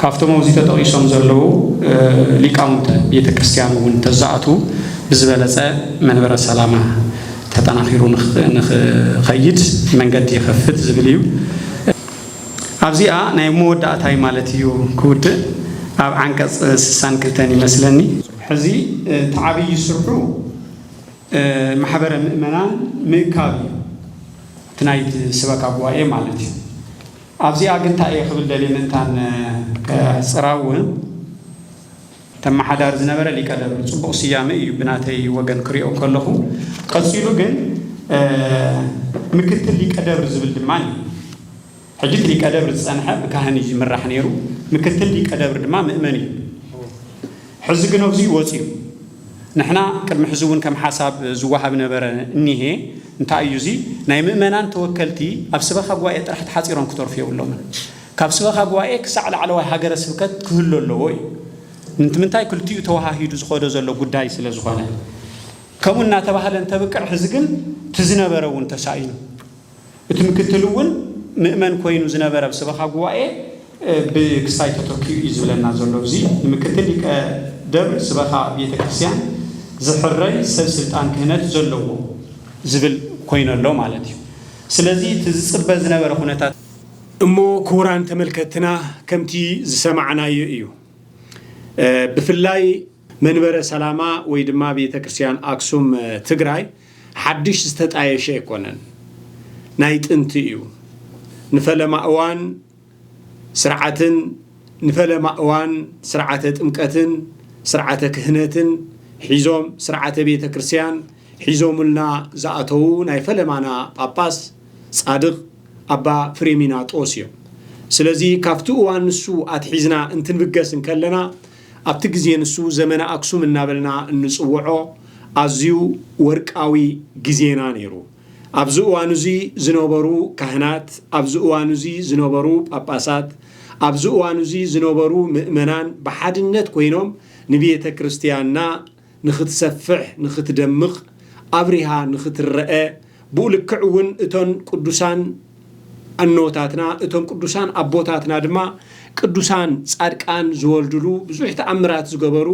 ካብቶም ኣብዚ ተጠቒሶም ዘለዉ ሊቃውንተ ቤተ ክርስቲያን እውን እንተዝኣትዉ ብዝበለፀ መንበረ ሰላማ ተጠናኺሩ ንኽኸይድ መንገዲ ይኸፍት ዝብል እዩ። ኣብዚኣ ናይ መወዳእታይ ማለት እዩ ክውድእ ኣብ ዓንቀፅ ስሳን ክልተን ይመስለኒ። ሕዚ እቲ ዓብዪ ስርሑ ማሕበረ ምእመናን ምእካብ እዩ፣ እቲ ናይቲ ስበካ ጉባኤ ማለት እዩ። ኣብዚኣ ግን ታይ እየ ክብል ደልየ ምእንታን ከሕፅራ እውን ተመሓዳሪ ዝነበረ ሊቀ ደብር ፅቡቕ ስያመ እዩ ብናተይ ወገን ክሪኦ ከለኹ ቀፂሉ ግን ምክትል ሊቀ ደብር ዝብል ድማ እዩ ሕጂ እቲ ሊቀ ደብር ዝፀንሐ ብካህን እዩ ዝምራሕ ነይሩ ምክትል ሊቀ ደብር ድማ ምእመን እዩ ሕዚ ግን ኣዙይ ወፅዩ ንሕና ቅድሚ ሕዚ እውን ከም ሓሳብ ዝወሃብ ነበረ እኒሀ እንታይ እዩ እዙይ ናይ ምእመናን ተወከልቲ ኣብ ስበኻ ጉባኤ ጥራሕ ተሓፂሮም ክተርፉ የብሎምን ካብ ስበኻ ጉባኤ ክሳዕ ላዕለዋይ ሃገረ ስብከት ክህሉ ኣለዎ እዩ እንትምንታይ ክልቲኡ ተወሃሂዱ ዝኸዶ ዘሎ ጉዳይ ስለ ዝኾነ ከምኡ እናተባህለ እንተብቅዕ ሕዚ ግን ትዝነበረ እውን ተሳኢኑ እቲ ምክትሉ እውን ምእመን ኮይኑ ዝነበረ ኣብ ሰበኻ ጉባኤ ብክስታይ ተተኪኡ እዩ ዝብለና ዘሎ። እዚ ንምክትል ሊቀ ደብር ስበኻ ቤተ ክርስቲያን ዝሕረይ ሰብ ስልጣን ክህነት ዘለዎ ዝብል ኮይኑ ኣሎ ማለት እዩ። ስለዚ እቲ ዝፅበ ዝነበረ ኩነታት። እሞ ክቡራን ተመልከትና ከምቲ ዝሰማዕናዮ እዩ ብፍላይ። መንበረ ሰላማ ወይ ድማ ቤተ ክርስቲያን ኣክሱም ትግራይ ሓድሽ ዝተጣየሸ ኣይኮነን፣ ናይ ጥንቲ እዩ። ንፈለማ እዋን ስርዓትን ንፈለማ እዋን ስርዓተ ጥምቀትን ስርዓተ ክህነትን ሒዞም ስርዓተ ቤተ ክርስቲያን ሒዞሙልና ዝኣተዉ ናይ ፈለማና ጳጳስ ጻድቕ ኣባ ፍሬሚናጦስ እዮም። ስለዚ ካብቲ እዋን ንሱ ኣትሒዝና እንትንብገስ እንከለና ኣብቲ ግዜ ንሱ ዘመነ ኣክሱም እናበልና እንጽውዖ ኣዝዩ ወርቃዊ ግዜና ነይሩ። ኣብዚ እዋን እዚ ዝነበሩ ካህናት፣ ኣብዚ እዋን እዚ ዝነበሩ ጳጳሳት፣ ኣብዚ እዋን እዚ ዝነበሩ ምእመናን ብሓድነት ኮይኖም ንቤተ ክርስትያንና፣ ንኽትሰፍሕ ንኽትደምቕ ኣብሪሃ ንኽትረኣ ብኡ ልክዕ እውን እቶን ቅዱሳን ኣኖታትና እቶም ቅዱሳን ኣቦታትና ድማ ቅዱሳን ጻድቃን ዝወልድሉ ብዙሕ ተኣምራት ዝገበሩ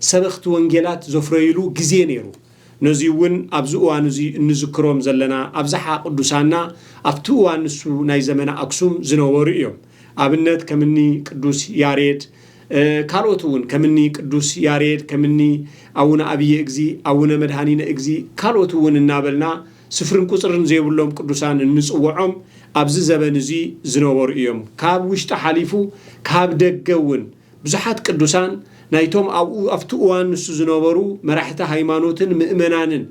ሰበኽቲ ወንጌላት ዘፍረይሉ ግዜ ነይሩ ነዙይ እውን ኣብዚ እዋን እዙይ እንዝክሮም ዘለና ኣብዝሓ ቅዱሳና ኣብቲ እዋን ንሱ ናይ ዘመነ ኣክሱም ዝነበሩ እዮም ኣብነት ከምኒ ቅዱስ ያሬድ ካልኦት እውን ከምኒ ቅዱስ ያሬድ ከምኒ ኣውነ ኣብየ እግዚ ኣውነ መድኃኒነ እግዚ ካልኦት እውን እናበልና ስፍርን ቁፅርን ዘይብሎም ቅዱሳን እንፅወዖም ኣብዚ ዘበን እዙይ ዝነበሩ እዮም ካብ ውሽጢ ሓሊፉ ካብ ደገ እውን ብዙሓት ቅዱሳን ናይቶም ኣብኡ ኣብቲ እዋን ንሱ ዝነበሩ መራሕቲ ሃይማኖትን ምእመናንን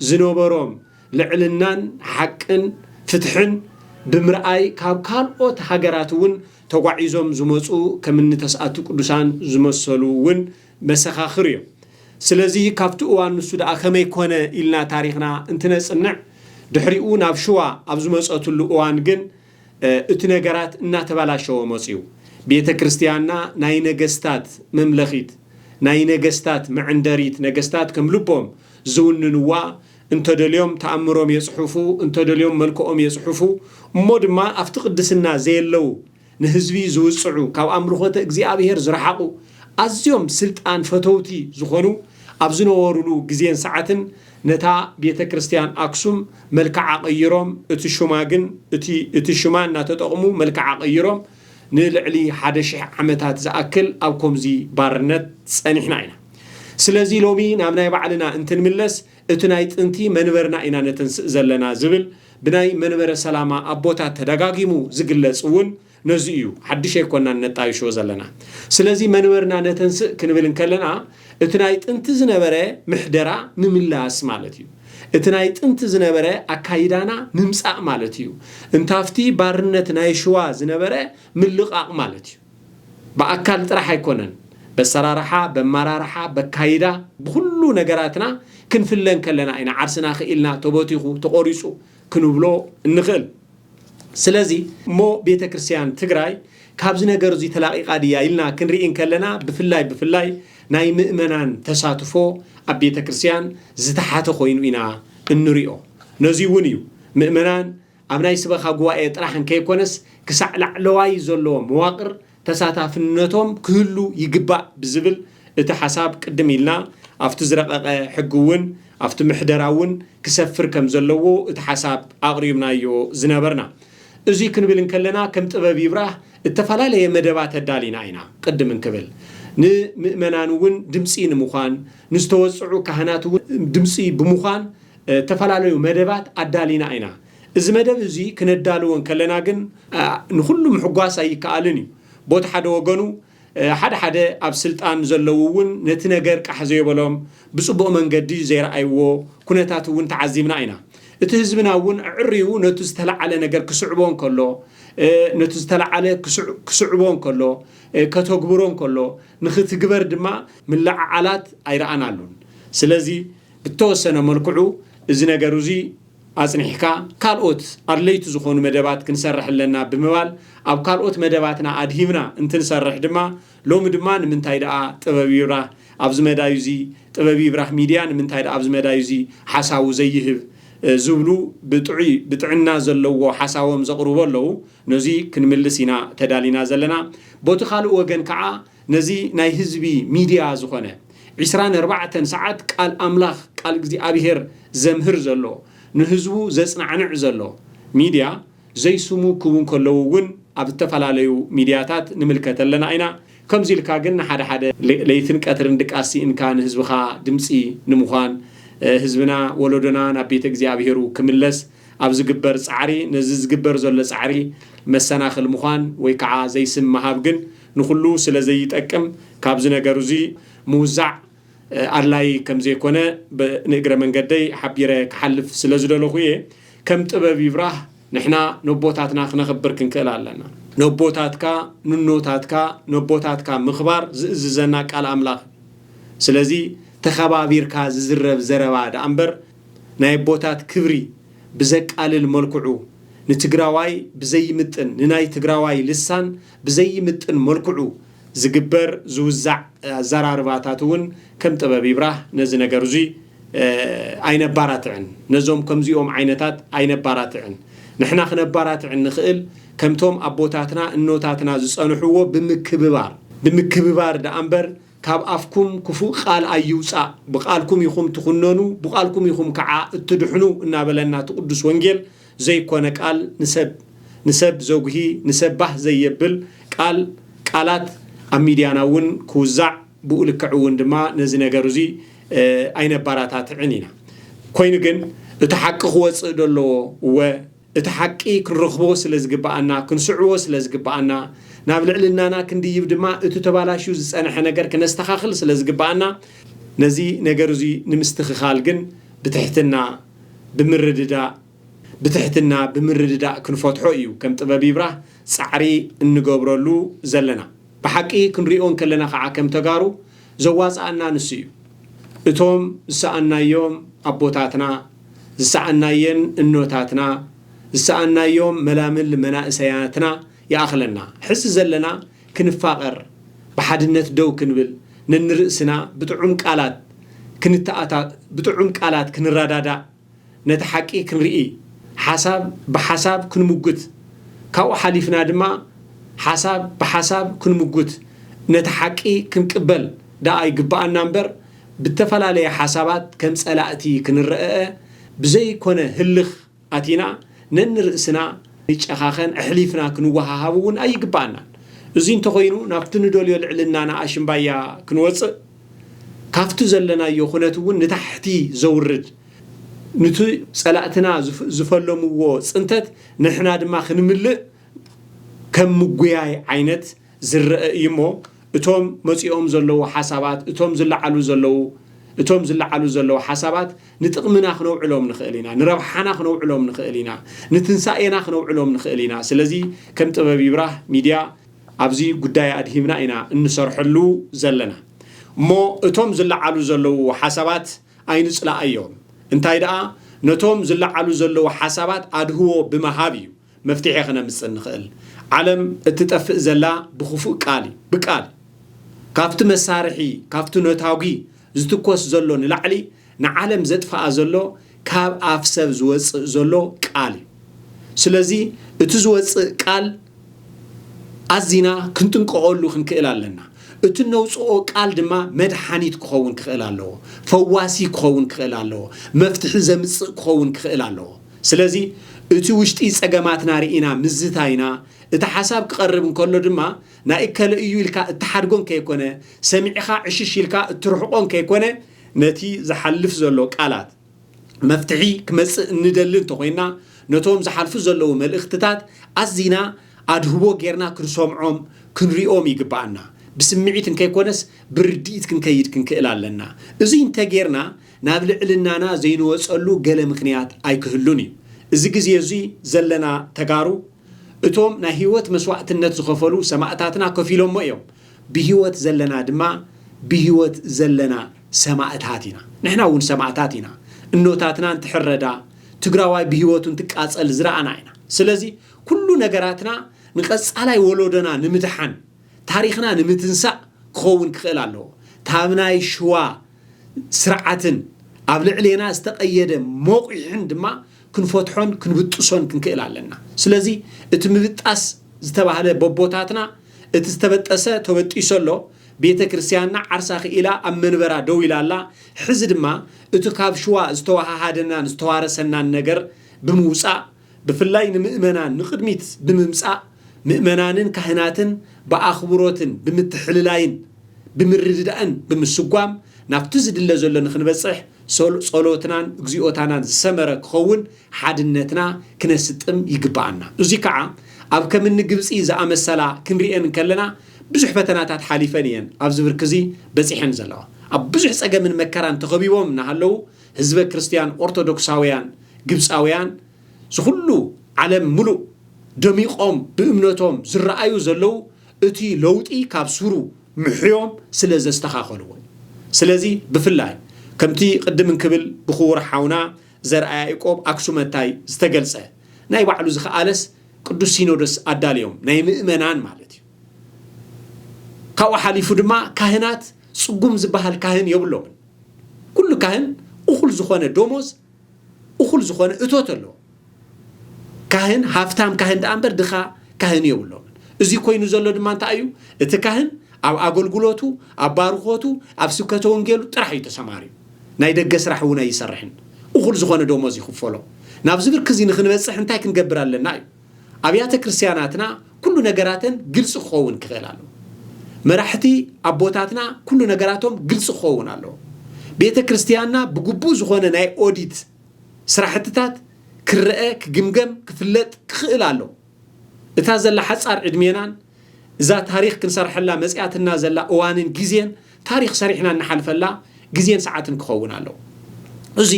ዝነበሮም ልዕልናን ሓቅን ፍትሕን ብምርኣይ ካብ ካልኦት ሃገራት እውን ተጓዒዞም ዝመጹ ከምኒ ተስኣቲ ቅዱሳን ዝመሰሉ እውን መሰኻኽር እዮም። ስለዚ ካብቲ እዋን ንሱ ደኣ ከመይ ኮነ ኢልና ታሪኽና እንትነጽንዕ ድሕሪኡ ናብ ሽዋ ኣብ ዝመጸትሉ እዋን ግን እቲ ነገራት እናተበላሸወ መጺኡ። ቤተ ክርስቲያንና ናይ ነገስታት መምለኺት፣ ናይ ነገስታት መዕንደሪት ነገስታት ከም ልቦም ዝውንንዋ እንተደልዮም ተኣምሮም የጽሑፉ እንተደልዮም መልክኦም የጽሑፉ እሞ ድማ ኣብቲ ቅድስና ዘየለው ንህዝቢ ዝውጽዑ ካብ ኣምልኾተ እግዚኣብሔር ዝረሓቑ ኣዝዮም ስልጣን ፈተውቲ ዝኾኑ ኣብ ዝነበሩሉ ግዜን ሰዓትን ነታ ቤተ ክርስቲያን ኣክሱም መልክዓ ቀይሮም እቲ ሹማ ግን እቲ እቲ ሽማ እናተጠቕሙ መልክዓ ቀይሮም ንልዕሊ ሓደ ሽሕ ዓመታት ዝኣክል ኣብ ኮምዚ ባርነት ጸኒሕና ኢና። ስለዚ ሎሚ ናብ ናይ ባዕልና እንትንምለስ እቲ ናይ ጥንቲ መንበርና ኢና ነተንስእ ዘለና ዝብል ብናይ መንበረ ሰላማ ኣቦታት ተደጋጊሙ ዝግለጽ እውን ነዚ እዩ። ሓድሽ ኣይኮናን ነጣይሾ ዘለና። ስለዚ መንበርና ነተንስእ ክንብል እንከለና፣ እቲ ናይ ጥንቲ ዝነበረ ምሕደራ ምምላስ ማለት እዩ። እቲ ናይ ጥንቲ ዝነበረ ኣካይዳና ምምጻእ ማለት እዩ። እንታፍቲ ባርነት ናይ ሽዋ ዝነበረ ምልቓቕ ማለት እዩ። ብኣካል ጥራሕ ኣይኮነን በሰራርሓ፣ በማራርሓ፣ በካይዳ ብኹሉ ነገራትና ክንፍለ እንከለና ኢና ዓርስና ክኢልና ተቦቲኹ ተቖሪጹ ክንብሎ እንኽእል። ስለዚ እሞ ቤተ ክርስቲያን ትግራይ ካብዚ ነገር እዙይ ተላቒቓ ድያ ኢልና ክንርኢ እንከለና ብፍላይ ብፍላይ ናይ ምእመናን ተሳትፎ ኣብ ቤተ ክርስቲያን ዝተሓተ ኮይኑ ኢና እንሪኦ። ነዙይ እውን እዩ ምእመናን ኣብ ናይ ስበኻ ጉባኤ ጥራሕ እንከይኮነስ ክሳዕ ላዕለዋይ ዘሎ መዋቕር ተሳታፍነቶም ክህሉ ይግባእ ብዝብል እቲ ሓሳብ ቅድም ኢልና ኣብቲ ዝረቐቐ ሕጊ እውን ኣብቲ ምሕደራ እውን ክሰፍር ከም ዘለዎ እቲ ሓሳብ ኣቕሪብናዮ ዝነበርና። እዙይ ክንብል እንከለና ከም ጥበብ ይብራህ እተፈላለየ መደባት ኣዳሊና ኢና። ቅድም እንክብል ንምእመናን እውን ድምፂ ንምዃን ንዝተወፅዑ ካህናት እውን ድምፂ ብምዃን እተፈላለዩ መደባት ኣዳሊና ኢና። እዚ መደብ እዙይ ክነዳልዎ እንከለና ግን ንኹሉ ምሕጓስ ኣይከኣልን እዩ። ቦቲ ሓደ ወገኑ ሓደ ሓደ ኣብ ስልጣን ዘለዉ እውን ነቲ ነገር ቃሕ ዘዮበሎም ብፅቡቕ መንገዲ ዘይረኣይዎ ኩነታት እውን ተዓዚብና ኢና። እቲ ህዝብና እውን ኣዕርዩ ነቱ ዝተለዓለ ነገር ክስዕቦ እንከሎ ነቱ ዝተለዓለ ክስዕቦ እንከሎ ከተግብሮ እንከሎ ንኽትግበር ድማ ምልዕዓላት ኣይረኣናሉን። ስለዚ ብተወሰነ መልክዑ እዚ ነገር እዙይ ኣፅኒሕካ ካልኦት ኣድለይቲ ዝኾኑ መደባት ክንሰርሕ ኣለና ብምባል ኣብ ካልኦት መደባትና ኣድሂብና እንትንሰርሕ ድማ ሎሚ ድማ ንምንታይ ደኣ ጥበብ ይብራህ ኣብዚ መዳዩ እዚ ጥበብ ይብራህ ሚድያ ንምንታይ ደኣ ኣብዚ መዳዩ እዚ ሓሳቡ ዘይህብ ዝብሉ ብጥዑይ ብጥዕና ዘለዎ ሓሳቦም ዘቕርቡ ኣለዉ ነዙይ ክንምልስ ኢና ተዳሊና ዘለና ቦቲ ካልእ ወገን ከዓ ነዚ ናይ ህዝቢ ሚድያ ዝኾነ ዒስራን ኣርባዕተን ሰዓት ቃል ኣምላኽ ቃል እግዚኣብሄር ዘምህር ዘሎ ንህዝቡ ዘጽናዕንዕ ዘሎ ሚድያ ዘይስሙ ክቡ እንከለዉ ውን ኣብ ዝተፈላለዩ ሚድያታት ንምልከት ኣለና ኢና ከምዚ ኢልካ ግን ንሓደ ሓደ ለይትን ቀትርን ድቃስ ሲኢንካ ንህዝብኻ ድምጺ ንምዃን ህዝብና ወለዶና ናብ ቤተ እግዚኣብሄሩ ክምለስ ኣብ ዝግበር ጻዕሪ ነዚ ዝግበር ዘሎ ጻዕሪ መሰናኽል ምዃን ወይ ከዓ ዘይስም ምሃብ ግን ንኹሉ ስለ ዘይጠቅም ካብዚ ነገር'ዚ ምውዛዕ ኣድላዪ ከም ዘይኮነ ንእግረ መንገደይ ሓቢረ ክሓልፍ ስለ ዝደለኹ እየ። ከም ጥበብ ይብራህ ንሕና ነቦታትና ክነኽብር ክንክእል ኣለና። ነቦታትካ ንኖታትካ ነቦታትካ ምኽባር ዝእዝዘና ቃል ኣምላኽ እዩ። ስለዚ ተኸባቢርካ ዝዝረብ ዘረባ ደኣ እምበር ናይ ኣቦታት ክብሪ ብዘቃልል መልክዑ ንትግራዋይ ብዘይምጥን ንናይ ትግራዋይ ልሳን ብዘይምጥን መልክዑ ዝግበር ዝውዛዕ ኣዘራርባታት እውን ከም ጥበብ ይብራህ ነዚ ነገር እዙይ ኣይነባራትዕን። ነዞም ከምዚኦም ዓይነታት ኣይነባራትዕን። ንሕና ክነባራትዕ እንኽእል ከምቶም ኣቦታትና እኖታትና ዝፀንሕዎ ብምክብባር ብምክብባር ደኣ እምበር ካብ ኣፍኩም ክፉእ ቓል ኣይውጻእ፣ ብቓልኩም ኢኹም ትኹነኑ፣ ብቓልኩም ኢኹም ከዓ እትድሕኑ እናበለና እቲ ቅዱስ ወንጌል ዘይኮነ ቃል ንሰብ ንሰብ ዘጉሂ ንሰብ ባህ ዘየብል ቃል ቃላት ኣብ ሚድያና እውን ክውዛዕ ብኡ ልክዕ እውን ድማ ነዚ ነገር እዙይ ኣይነባራታትዕን ኢና። ኮይኑ ግን እቲ ሓቂ ክወፅእ ዶ ኣለዎ እወ እቲ ሓቂ ክንረኽቦ ስለ ዝግብኣና፣ ክንስዕቦ ስለ ዝግብኣና፣ ናብ ልዕልናና ክንድይብ ድማ እቲ ተባላሽዩ ዝጸንሐ ነገር ክነስተኻኽል ስለ ዝግብኣና፣ ነዚ ነገር እዚ ንምስትኽኻል ግን ብትሕትና፣ ብምርድዳእ፣ ብትሕትና፣ ብምርድዳእ ክንፈትሖ እዩ ከም ጥበብ ይብራህ ጻዕሪ እንገብረሉ ዘለና። ብሓቂ ክንሪኦ እንከለና ከኣ ከም ተጋሩ ዘዋጽኣና ንሱ እዩ። እቶም ዝሰኣንናዮም ኣቦታትና፣ ዝሰኣናየን እኖታትና፣ ዝሰኣናዮም መላምል መናእሰያትና ይኣኽለና። ሕዚ ዘለና ክንፋቐር፣ ብሓድነት ደው ክንብል፣ ነንርእስና ብጥዑም ቃላት ክንተኣታ ብጥዑም ቃላት ክንረዳዳእ፣ ነቲ ሓቂ ክንርኢ፣ ሓሳብ ብሓሳብ ክንሙግት፣ ካብኡ ሓሊፍና ድማ ሓሳብ ብሓሳብ ክንሙግት ነቲ ሓቂ ክንቅበል ደኣ ይግበኣና እምበር፣ ብተፈላለየ ሓሳባት ከም ጸላእቲ ክንረእእ ብዘይኮነ ህልኽ ኣቲና ነንርእስና ክንጨኻኸን ኣሕሊፍና ክንወሃሃብ እውን ኣይግበኣናን። እዙይ እንተኾይኑ ናብቲ ንደልዮ ልዕልናና ኣሽምባያ ክንወጽእ ካፍቲ ዘለናዮ ኩነት እውን ንታሕቲ ዘውርድ ኑቲ ጸላእትና ዝፈለምዎ ጽንተት ንሕና ድማ ክንምልእ ከም ምጉያይ ዓይነት ዝረኣ እዩ እሞ እቶም መጺኦም ዘለዉ ሓሳባት እቶም ዝለዓሉ ዘለዉ እቶም ዝለዓሉ ዘለዉ ሓሳባት ንጥቕምና ክነውዕሎም ንኽእል ኢና፣ ንረብሓና ክነውዕሎም ንኽእል ኢና፣ ንትንሳኤና ክነውዕሎም ንኽእል ኢና። ስለዚ ከም ጥበብ ይብራህ ሚድያ ኣብዚ ጉዳይ ኣድሂብና ኢና እንሰርሐሉ ዘለና። እሞ እቶም ዝለዓሉ ዘለዉ ሓሳባት ኣይንጽላኣዮም። እንታይ ደኣ ነቶም ዝለዓሉ ዘለዉ ሓሳባት ኣድህቦ ብምሃብ እዩ። መፍትሒ ክነምፅእ ንኽእል። ዓለም እትጠፍእ ዘላ ብክፉእ ቃል እዩ፣ ብቃል ካብቲ መሳርሒ ካብቲ ነታጒ ዝትኮስ ዘሎ ንላዕሊ ንዓለም ዘጥፍኣ ዘሎ ካብ ኣፍ ሰብ ዝወፅእ ዘሎ ቃል እዩ። ስለዚ እቲ ዝወፅእ ቃል ኣዚና ክንጥንቀቐሉ ክንክእል ኣለና። እቲ እነውፅኦ ቃል ድማ መድሓኒት ክኸውን ክኽእል ኣለዎ፣ ፈዋሲ ክኸውን ክኽእል ኣለዎ፣ መፍትሒ ዘምፅእ ክኸውን ክኽእል ኣለዎ። ስለዚ እቲ ውሽጢ ጸገማትና ርኢና ምዝታይና፣ እቲ ሓሳብ ክቐርብ እንከሎ ድማ ናይ እከለ እዩ ኢልካ እትሓድጎን ከይኮነ፣ ሰሚዕኻ ዕሽሽ ኢልካ እትርሕቆን ከይኮነ፣ ነቲ ዝሓልፍ ዘሎ ቃላት፣ መፍትሒ ክመጽእ እንደሊ እንተኾይንና፣ ነቶም ዝሓልፉ ዘለዉ መልእኽትታት ኣዚና ኣድህቦ ጌርና ክንሰምዖም ክንሪኦም ይግብኣና። ብስምዒት እንከይኮነስ ብርድኢት ክንከይድ ክንክእል ኣለና። እዙይ እንተጌርና ናብ ልዕልናና ዘይንወፀሉ ገለ ምኽንያት ኣይክህሉን እዩ። እዚ ግዜ እዙይ ዘለና ተጋሩ እቶም ናይ ህይወት መስዋእትነት ዝኸፈሉ ሰማእታትና ከፊሎሞ እዮም። ብህይወት ዘለና ድማ ብህይወት ዘለና ሰማእታት ኢና። ንሕና እውን ሰማእታት ኢና። እኖታትና እንትሕረዳ፣ ትግራዋይ ብህይወቱ እንትቃፀል ዝረኣና ኢና። ስለዚ ኩሉ ነገራትና ንቐፃላይ ወሎዶና ንምድሓን፣ ታሪኽና ንምትንሳእ ክኸውን ክኽእል ኣለዎ። ታብ ናይ ሽዋ ስርዓትን ኣብ ልዕሌና ዝተቐየደ መቑሕን ድማ ክንፈትሖን ክንብጥሶን ክንክእል ኣለና። ስለዚ እቲ ምብጣስ ዝተባህለ በቦታትና እቲ ዝተበጠሰ ተበጢሱ ኣሎ፣ ቤተ ክርስቲያንና ዓርሳ ክኢላ ኣብ መንበራ ደው ኢላ ኣላ፣ ሕዚ ድማ እቲ ካብ ሽዋ ዝተወሃሃደናን ዝተዋረሰናን ነገር ብምውጻእ ብፍላይ ንምእመናን ንቕድሚት ብምምጻእ ምእመናንን ካህናትን ብኣኽብሮትን ብምትሕልላይን ብምርድዳእን ብምስጓም ናብቲ ዝድለ ዘሎ ንኽንበጽሕ ጸሎትናን እግዚኦታናን ዝሰመረ ክኸውን ሓድነትና ክነስጥም ይግብኣና። እዙይ ከዓ ኣብ ከም እኒ ግብጺ ዝኣመሰላ ክንርእየን እንከለና ብዙሕ ፈተናታት ሓሊፈን እየን ኣብዚ ብርኪ እዙይ በጺሐን ዘለዋ። ኣብ ብዙሕ ጸገምን መከራን ተኸቢቦም እናሃለዉ ህዝበ ክርስትያን ኦርቶዶክሳውያን ግብጻውያን ዝኹሉ ዓለም ምሉእ ደሚቖም ብእምነቶም ዝረኣዩ ዘለዉ እቲ ለውጢ ካብ ሱሩ ምሕዮም ስለ ዘስተኻኸልዎ እዩ። ስለዚ ብፍላይ ከምቲ ቅድም እንክብል ብክቡር ሓውና ዘርኣ ያእቆብ ኣክሱመታይ ዝተገልጸ ናይ ባዕሉ ዝኸኣለስ ቅዱስ ሲኖዶስ ኣዳልዮም ናይ ምእመናን ማለት እዩ። ካብኡ ሓሊፉ ድማ ካህናት ጽጉም ዝበሃል ካህን የብሎምን። ኩሉ ካህን እኹል ዝኾነ ዶሞዝ እኹል ዝኾነ እቶት ኣለዎ። ካህን ሃፍታም ካህን ደኣ እምበር ድኻ ካህን የብሎምን። እዚ ኮይኑ ዘሎ ድማ እንታይ እዩ? እቲ ካህን ኣብ ኣገልግሎቱ፣ ኣብ ባርኾቱ፣ ኣብ ስብከተ ወንጌሉ ጥራሕ እዩ ተሰማርዩ። ናይ ደገ ስራሕ እውን ኣይሰርሕን። እኹል ዝኾነ ዶሞዝ ይኽፈሎ። ናብዚ ብርኪ እዚ ንክንበፅሕ እንታይ ክንገብር ኣለና እዩ? ኣብያተ ክርስትያናትና ኩሉ ነገራተን ግልፂ ክኸውን ክኽእል ኣለዎ። መራሕቲ ኣቦታትና ኩሉ ነገራቶም ግልፂ ክኸውን ኣለዎ። ቤተ ክርስትያንና ብግቡእ ዝኾነ ናይ ኦዲት ስራሕትታት ክረኣ፣ ክግምገም፣ ክፍለጥ ክኽእል ኣለዎ። እታ ዘላ ሓፃር ዕድሜናን እዛ ታሪኽ ክንሰርሐላ መጺኣትና ዘላ እዋንን ግዜን ታሪኽ ሰሪሕና እንሓልፈላ ግዜን ሰዓትን ክኸውን ኣለዎ። እዚ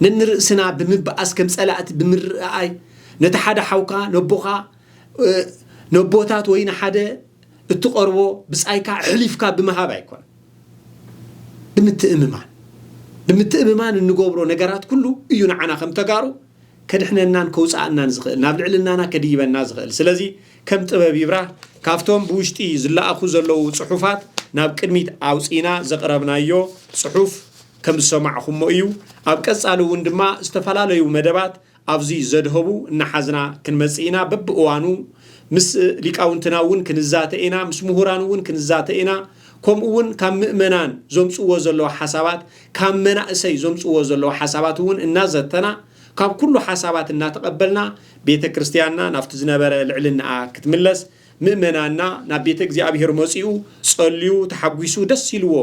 ነንርእስና ብምብኣስ ከም ጸላእቲ ብምርኣይ ነቲ ሓደ ሓውካ ነቦኻ ነቦታት ወይ ንሓደ እትቐርቦ ብጻይካ ኣሕሊፍካ ብምሃብ ኣይኮነን። ብምትእምማን ብምትእምማን እንገብሮ ነገራት ኩሉ እዩ ንዓና ከም ተጋሩ ከድሕነናን ከውጽኣናን ዝኽእል ናብ ልዕልናና ከድይበና ዝኽእል ስለዚ ከም ጥበብ ይብራህ ካብቶም ብውሽጢ ዝለኣኹ ዘለዉ ጽሑፋት ናብ ቅድሚት ኣውጺእና ዘቕረብናዮ ጽሑፍ ከም ዝሰማዕኹሞ እዩ። ኣብ ቀጻሊ እውን ድማ ዝተፈላለዩ መደባት ኣብዚ ዘድሀቡ እናሓዝና ክንመጽእ ኢና። በብእዋኑ ምስ ሊቃውንትና እውን ክንዛተ ኢና፣ ምስ ምሁራን እውን ክንዛተ ኢና። ከምኡ እውን ካብ ምእመናን ዘምጽዎ ዘለዉ ሓሳባት፣ ካብ መናእሰይ ዘምጽዎ ዘለዉ ሓሳባት እውን እናዘተና ካብ ኩሉ ሓሳባት እናተቐበልና ቤተ ክርስትያንና ናብቲ ዝነበረ ልዕልናኣ ክትምለስ ምእመናና ናብ ቤተ እግዚኣብሔር መጺኡ ጸልዩ ተሓጒሱ ደስ ኢልዎ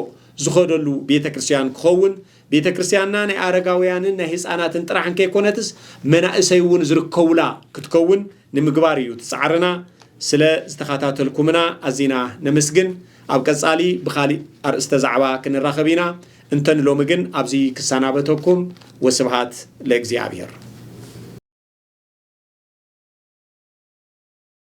ዝኸደሉ ቤተ ክርስትያን ክኸውን ቤተ ክርስትያንና ናይ ኣረጋውያንን ናይ ህፃናትን ጥራሕ እንከይኮነትስ መናእሰይ እውን ዝርከቡላ ክትከውን ንምግባር እዩ ትፃዕርና ስለ ዝተኸታተልኩምና ኣዚና ነመስግን ኣብ ቀጻሊ ብኻሊእ ኣርእስተ ዛዕባ ክንራኸብ ኢና እንተ ንሎሚ ግን ኣብዚ ክሰናበተኩም ወስብሃት ለእግዚኣብሔር።